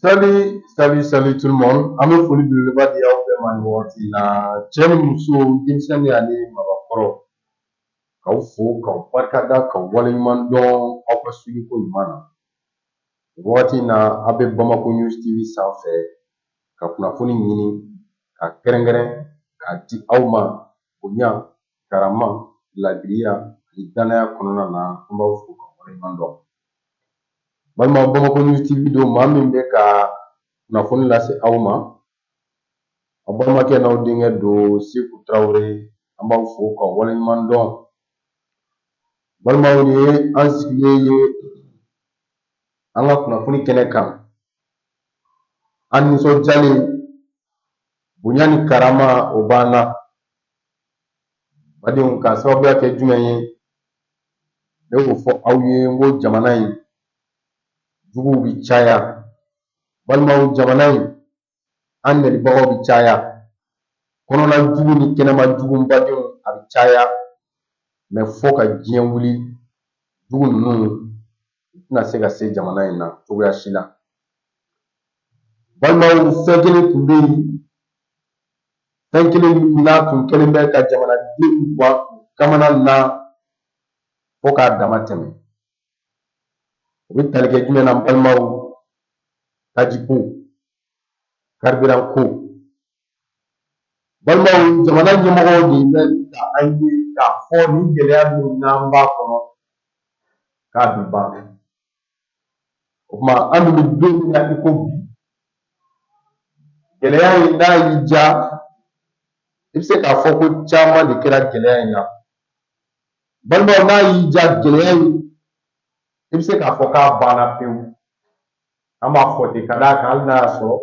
Salut, salut, salut tout le monde. An bɛ foli belebeleba di aw bɛɛ ma nin wagati in na. Cɛ ni muso, denmisɛnnin ani mabakɔrɔ. K'aw fo, k'aw barikada, k'aw waleɲuman dɔn aw ka suivi ko ɲuman na. Nin wagati in na, aw bɛ Bamako News TV sanfɛ ka kunnafoni ɲini, k'a kɛrɛnkɛrɛn, k'a di aw ma bonya karama laadiriya ani dannaya kɔnɔna na an b'aw fo k'aw waleɲuman dɔn balima bamako news tv don maa min bɛ ka kunnafoni lase aw ma aw balimakɛ n'aw denkɛ don seku tarawele an b'aw fo k'aw waleɲuman dɔn balimaw nin ye an sigilen ye an ka kunnafoni kɛnɛ kan an nisɔndiyalen bonya ni karama o b'an na badenw k'a sababuya kɛ jumɛn ye ne y'o fɔ aw ye n ko jamana in juguw bi caya balimaw jamana in an nɛnibagaw bi caya kɔnɔna jugu ni kɛnɛma jugu badenw a bi caya mais fo ka diɲɛ wuli jugu ninnu u tɛna se ka se jamana in na cogoya si la balimaw fɛn kelen tun bɛ yen fɛn kelen min n'a tun kɛlen bɛ ka jamanadenw bɔ kamana na fo k'a dama tɛmɛ o bɛ tali kɛ jumɛn na balimaw tajiko carburant ko balimaw jamana ɲɛmɔgɔw de bɛ ka an ye k'a fɔ nin gɛlɛya min n'an b'a kɔnɔ k'a bɛ ban O tuma an bɛ don min na i ko bi gɛlɛya in n'a y'i diya i bɛ se k'a fɔ ko caman de kɛra gɛlɛya in na balimaw n'a y'i diya gɛlɛya in i bɛ se k'a fɔ k'a banna pewu an b'a fɔ ten ka d'a kan hali n'a y'a sɔrɔ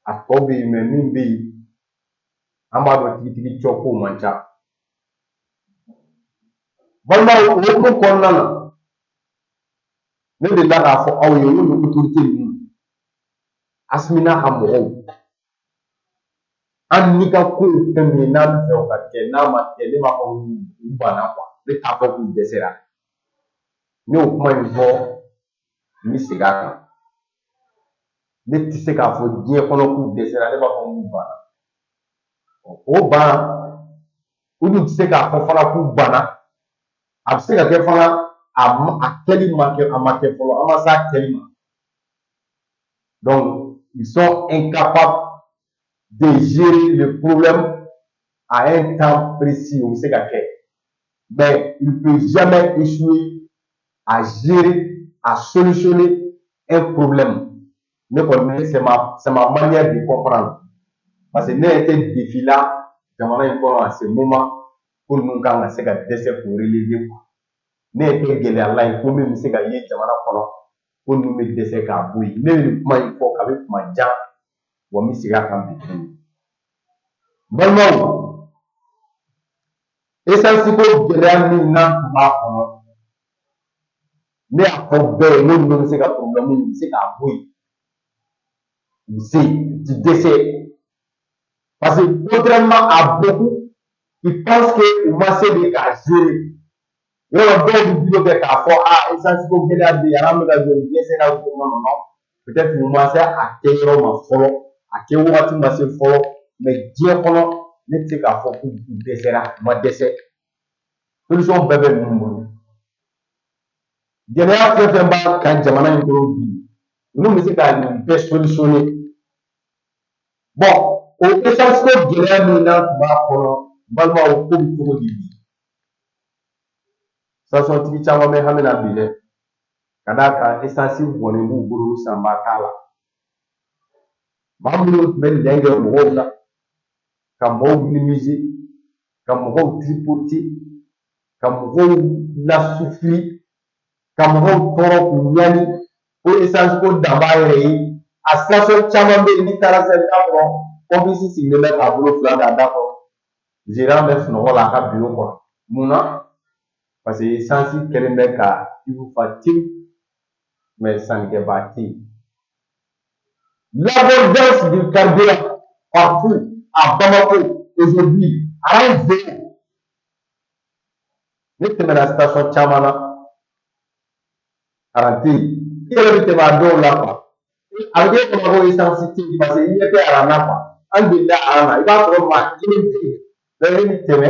a tɔ bɛ yen mais min bɛ yen an b'a dɔn tigitigi cɔ k'o man ca balimaw o hukumu kɔnɔna na ne delila k'a fɔ aw ye n ko nin autorité ninnu asimi n'a ka mɔgɔw an n'i ka ko ye fɛn min ye n'an b'a fɛ o ka kɛ n'a ma kɛ ne b'a fɔ u banna quoi ne t'a fɔ k'u dɛsɛra ne y'o kuma in fɔ n bɛ segin a kan ne tɛ se k'a fɔ diɲɛ kɔnɔ k'u dɛsɛra ne b'a fɔ k'u banna o ban u dun tɛ se k'a fɔ fana k'u banna a bɛ se ka kɛ fana a a kɛli ma kɛ a ma kɛ fɔlɔ a ma s'a kɛli ma donc ils sont incapables de gérer le problème à un temps précis o bɛ se ka kɛ mais il ne peut jamais échouer à gérer à solutionner un problème ne kɔni c'est ma c'est ma manière de comprendre parce que ne ɲɛ tɛ défi la jamana in kɔnɔ à ce moment ko ninnu kan ka se ka dɛsɛ k'o relever quoi ne ɲɛ tɛ gɛlɛya la yen ko min bɛ se ka ye jamana kɔnɔ ko ninnu bɛ dɛsɛ k'a bɔ yen ne bɛ nin kuma in fɔ kabi kuma jan wa n bɛ segin a kan bi tuguni balimaw esansi ko gɛlɛya min n'an tun b'a kɔnɔ ne y'a fɔ bɛɛ ye n ko ninnu bɛ se ka problème nin se k'a bɔ yen u si ti dɛsɛ parce que contrairement à beaucoup qui pensent que u ma se de k'a gérer yɔrɔ dɔw bɛ bolo kɛ k'a fɔ a essence ko gɛlɛya bɛ yen an bɛ ka jɔ nin dɛsɛra ko non non peut-être u ma se a kɛ yɔrɔ ma fɔlɔ a kɛ wagati ma se fɔlɔ mais diɲɛ kɔnɔ ne tɛ se k'a fɔ k'u dɛsɛra u ma dɛsɛ. solution bɛɛ bɛ ninnu bolo gɛlɛya fɛn fɛn b'a kan jamana in kɔnɔ bi ninnu bɛ se ka nin bɛɛ solutionner bon o essence ko gɛlɛya min n'an tun b'a kɔnɔ balimaw ko bɛ cogo di bi stationtigi caman bɛ hami na bi dɛ ka d'a kan essence bɔnnen b'u bolo sanbaa t'a la Maa minnu tun bɛ nɛn kɛ mɔgɔw la ka mɔgɔw minimiser ka mɔgɔw tripoter ka mɔgɔw lasouffrir ka mɔgɔw tɔɔrɔ k'u ɲani ko essence ko dan b'a yɛrɛ ye a station caman bɛ yen n'i taara sisan i b'a sɔrɔ pompiste sigilen bɛ k'a bolo fila d'a da kɔrɔ gérant bɛ sunɔgɔ la a ka bureau kɔnɔ mun na parce que essence kɛlen bɛ ka cuve fa tewu mais sankɛbaa tɛ yen l'abondance du carburant partout à Bamako aujourd'hui aran zéro ne tɛmɛna station caman na aran tɛ yen i yɛrɛ bɛ tɛmɛ a dɔw la quoi a bɛ kɛ i ma ko essence tɛ yen parce que i ɲɛ tɛ aran na quoi an delila aran na i b'a sɔrɔ maa kelen tɛ yen bɛɛ bɛ tɛmɛ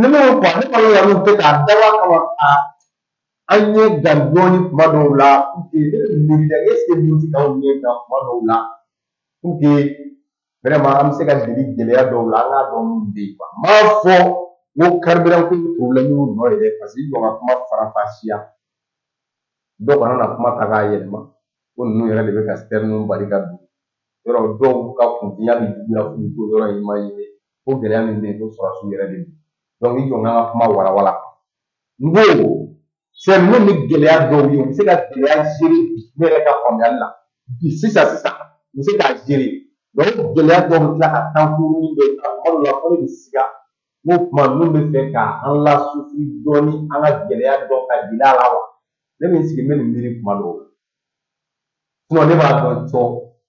ne ma kɔ ne kɔni yɛrɛ tɛ k'a daba kama a an ɲɛ da dɔɔni kuma dɔw la ne bɛ miiri la est-ce que min ti k'anw ɲɛ da kuma dɔw la pour que vraiment an bɛ se ka deli gɛlɛya dɔw la an k'a dɔn min bɛ yen quoi n m'a fɔ n ko carburant ko problème y'u nɔ ye dɛ parce que i jɔ ka kuma farafasiya dɔ kana na kuma ta k'a yɛlɛma ko ninnu yɛrɛ de bɛ ka sitɛriniw bali ka don yɔrɔ dɔw ka kunfinya bɛ juguya f'u ko yɔrɔ in ma ye ko gɛlɛya min bɛ yen ko sɔrɔsiw yɛrɛ de don i jɔ n ka kuma walawala n ko fɛn minnu ni gɛlɛya dɔw ye u bɛ se ka gɛlɛya gérer ne yɛrɛ ka faamuyali la bi sisan sisan u bɛ se k'a gérer donc gɛlɛya dɔw bɛ tila ka taa kuruni bɛ ta kuma dɔw la fo ne bɛ siga n ko kuma ninnu bɛ fɛ ka an lasufuri dɔɔni an ka gɛlɛya dɔ ka gɛlɛya la wa ne bɛ n sigi n bɛ nin miiri kuma dɔw la sinon ne b'a dɔn cɔ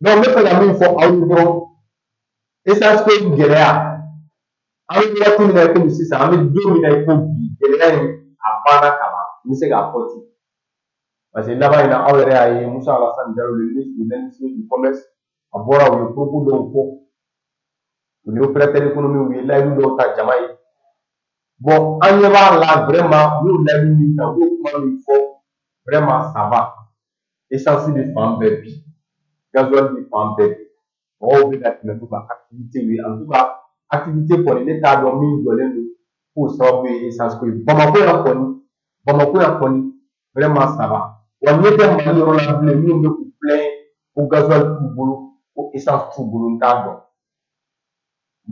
Donc n bɛ fɛ ka min fɔ aw ye dɔrɔn esansi ko in gɛlɛya an bɛ waati min na i komi sisan an bɛ don min na i ko bi gɛlɛya in a banna ka ban n bɛ se k'a fɔ ten parce que laban in na aw yɛrɛ y'a ye Musa Alasani Diallo le ministre de l'industrie du commerce a bɔra u ye propos dɔw fɔ u ni opérateur économique u ye layidu dɔw ta jama ye bon an ɲɛ b'a la vraiment u y'o layidu min ta u y'o kuma min fɔ vraiment ça va esansi bɛ fan bɛɛ bi gazuwali bɛ fan bɛɛ bi mɔgɔw bɛ ka tɛmɛ n'u ka akitivite ye en tout cas akitivite kɔni ne t'a dɔn min jɔlen don k'o sababu ye esansi ko ye bamakɔ yan kɔni bamakɔ yan kɔni vraiment ça va wa ɲɛ tɛ mali yɔrɔ la bilen minnu bɛ k'u plaindre ko gazuwali t'u bolo ko esansi t'u bolo n t'a dɔn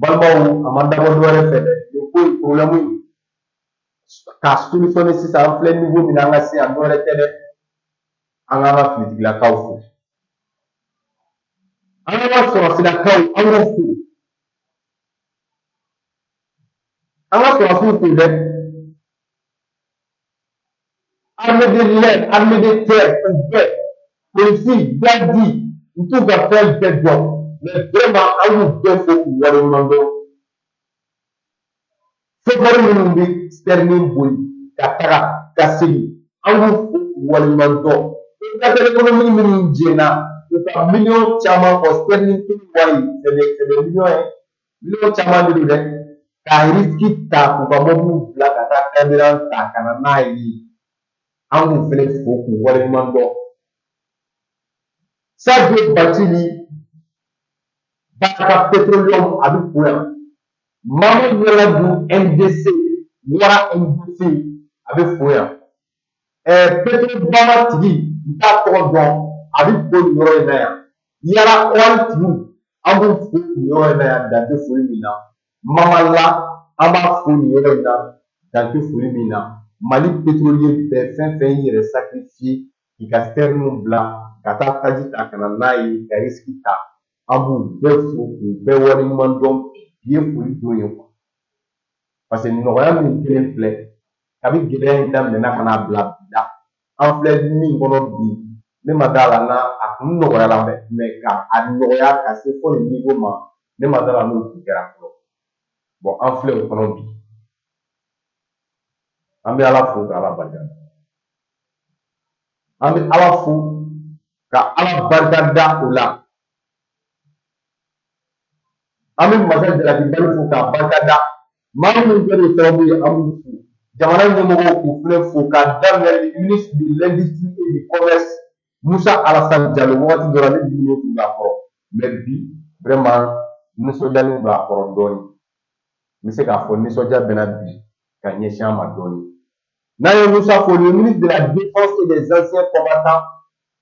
balimaw a ma dabɔ dɔ wɛrɛ fɛ dɛ nin ko in problème in k'a solutionner sisan an filɛ niveau min na an ka se yan dɔ wɛrɛ tɛ dɛ an k'an ka finitigilakaw fo an k'an ka sɔrɔsilakaw an k'u fo an ka sɔrɔsiw fo dɛ armée de l'air armée de terre u bɛɛ polisi garidi n t'u ka fɛn bɛɛ dɔn mais vraiment an y'u bɛɛ fo k'u waleɲuman dɔn sofɛri minnu bɛ sitɛrini boli ka taga ka segin an y'u fo k'u waleɲuman dɔn opérateur économique minnu jɛnna u ka miliyɔn caman kɔ sitɛrini kelen wari c'est des c'est des millions ye Miliyɔn caman de don dɛ ka risiki ta k'u ka mɔbiliw bila ka taa carburant ta ka na n'a ye an k'u fɛnɛ fo k'u waleɲuman dɔn sadio batili baraka petroleum a bɛ fo yan mamadu ɲangadu ndc wara ndc a bɛ fo yan ɛɛ petro bama tigi n t'a tɔgɔ dɔn a bɛ fo nin yɔrɔ in na yan yara oil tigi an b'u fo nin yɔrɔ in na yan dan tɛ foli min na mamala an b'a fo nin yɔrɔ in na dan tɛ foli min na mali petroliye bɛɛ fɛn fɛn y'i yɛrɛ sakirifiye k'i ka sitɛriniw bila ka taa taji ta ka na n'a ye ka risiki ta an b'u bɛɛ fo k'u bɛɛ waleɲuman dɔn bi ye foli don ye quoi parce que nɔgɔya min kɛlen filɛ kabi gɛlɛya in daminɛna ka n'a bila bi la an filɛ min kɔnɔ bi ne ma d'a la n'a a kun nɔgɔyala mais ka a nɔgɔya ka se fo nin niveau ma ne ma d'a la n'o kun kɛra fɔlɔ bon an filɛ o kɔnɔ bi an bɛ ala fo ka ala barika da an bɛ ala fo ka ala barika da o la an bɛ masa jalakibali fo k'a barika da maa minnu kɛra o sababu ye an b'u fo jamana ɲɛmɔgɔw k'u fɛnɛ fo k'a daminɛ ministre de l'industrie et du commerce musa alasan jalo wagati dɔ la ne diminen tun b'a kɔrɔ mais bi vraiment nisɔndiyalen don a kɔrɔ dɔɔnin n bɛ se k'a fɔ nisɔndiya bɛ n na bi ka ɲɛsin an ma dɔɔnin N'an ye Moussa fo, le ministre de la Défense et des anciens combattants,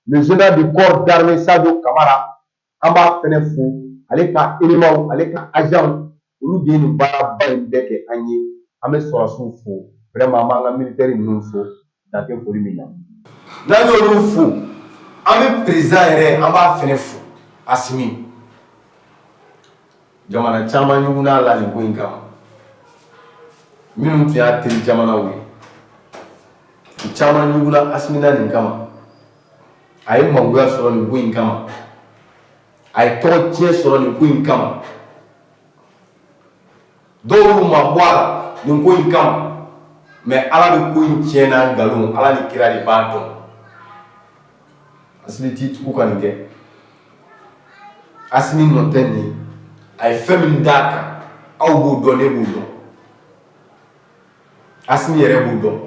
le général du corps d'armée Sadio Kamara, an b'a fɛnɛ fo ale ka éléments ale ka agents olu de ye nin baaraba in bɛɛ kɛ an ye an bɛ sɔrɔdasiw fo vraiment an b'an ka militaire ninnu fo dan tɛ foli min na n'an y'olu fo an bɛ président yɛrɛ an b'a fɛnɛ fo Asimi jamana caman ɲugunn'a la nin ko in kama minnu tun y'a teri jamanaw ye u caman ɲugunna asimi na nin kama a ye mangoya sɔrɔ nin ko in kama a ye tɔgɔ tiɲɛ sɔrɔ nin ko in kama dɔw y'u mabɔ a la nin ko in kama mais ala de ko in tiɲɛ n'a nkalon ala ni kira de b'a dɔn asimi t'i tugu ka nin kɛ asimi nɔ tɛ nin a ye fɛn min d'a kan aw b'o dɔn ne b'o dɔn asimi yɛrɛ b'o dɔn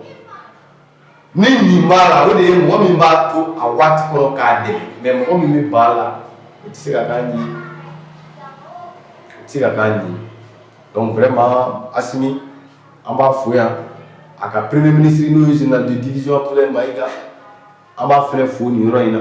ni min b'a la o de ye mɔgɔ min b'a to a waati kɔrɔ k'a dɛ mais mɔgɔ min bɛ ba la i tɛ se ka taa ɲɛ se ka taa ɲɛ donc vraiment asimi an b'a fo yan a ka premier ministre n'o ye général de division abdoulaye maiga an b'a fɛnɛ fo nin yɔrɔ in na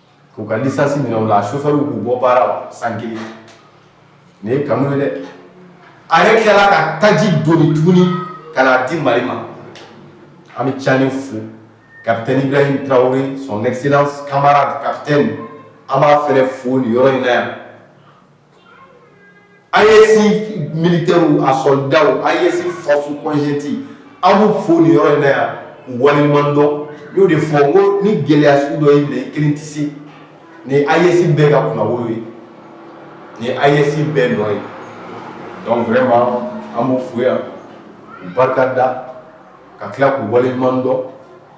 K'u ka licence minɛ u la a chauffeur k'u bɔ baara la san 1 nin ye kanu ye dɛ a yɛrɛ tilala ka taji doni tuguni ka n'a di Mali ma an bɛ Tchani fo capitaine Ibrahim Traore son excellence camarade capitaine an b'a fana fo nin yɔrɔ in na yan A ye mini tɛ a sɔnda a ye fa kɔnsee an bɛ fo ni yɔrɔ in na yan walidɔn y'o de fɔ ko ni gɛlɛyasiw dɔ ye kelen tɛ ni a yesi bɛɛ ka kuma ye ni a yesi bɛɛ nɔ ye dɔnku fɛ ma an bɛ fo yan barika da ka tila k' walidɔn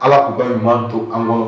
ala k'u ka ɲuman to an kɔnɔ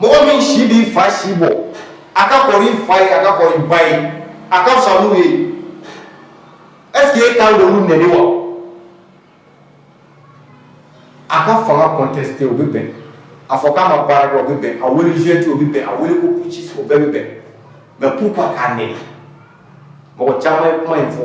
Mɔgɔ min si b'i fa si bɔ a ka kɔrɔ i fa ye a ka kɔrɔ i ba ye a ka fisa n'u ye est ce que e kan k'olu nɛni wa a ka fanga contesté o bɛ bɛn a fɔ k'a ma baara kɛ o bɛ bɛn a wele junte o bɛ bɛn a wele ko putschiste o bɛɛ bɛ bɛn mais pourquoi k'a nɛni mɔgɔ caman ye kuma in fɔ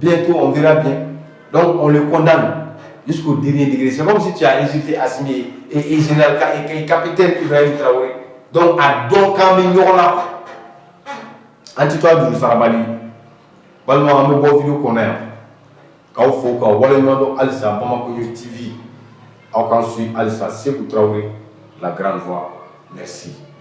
Bientôt, on verra bien. Donc, on le condamne jusqu'au dernier degré. C'est comme si tu as insulté Assimi et, et Général et, et capitaine Ibrahim Traoré. Donc, a don kan bi ɲɔgɔn la, an ti to a juru sarabali balimaw an bɛ bɔ video kɔnɔ yan k'aw fo k'aw waleɲuman dɔn halisa bamako yo tv aw k'an suivi halisa seku tarawele la grande voix merci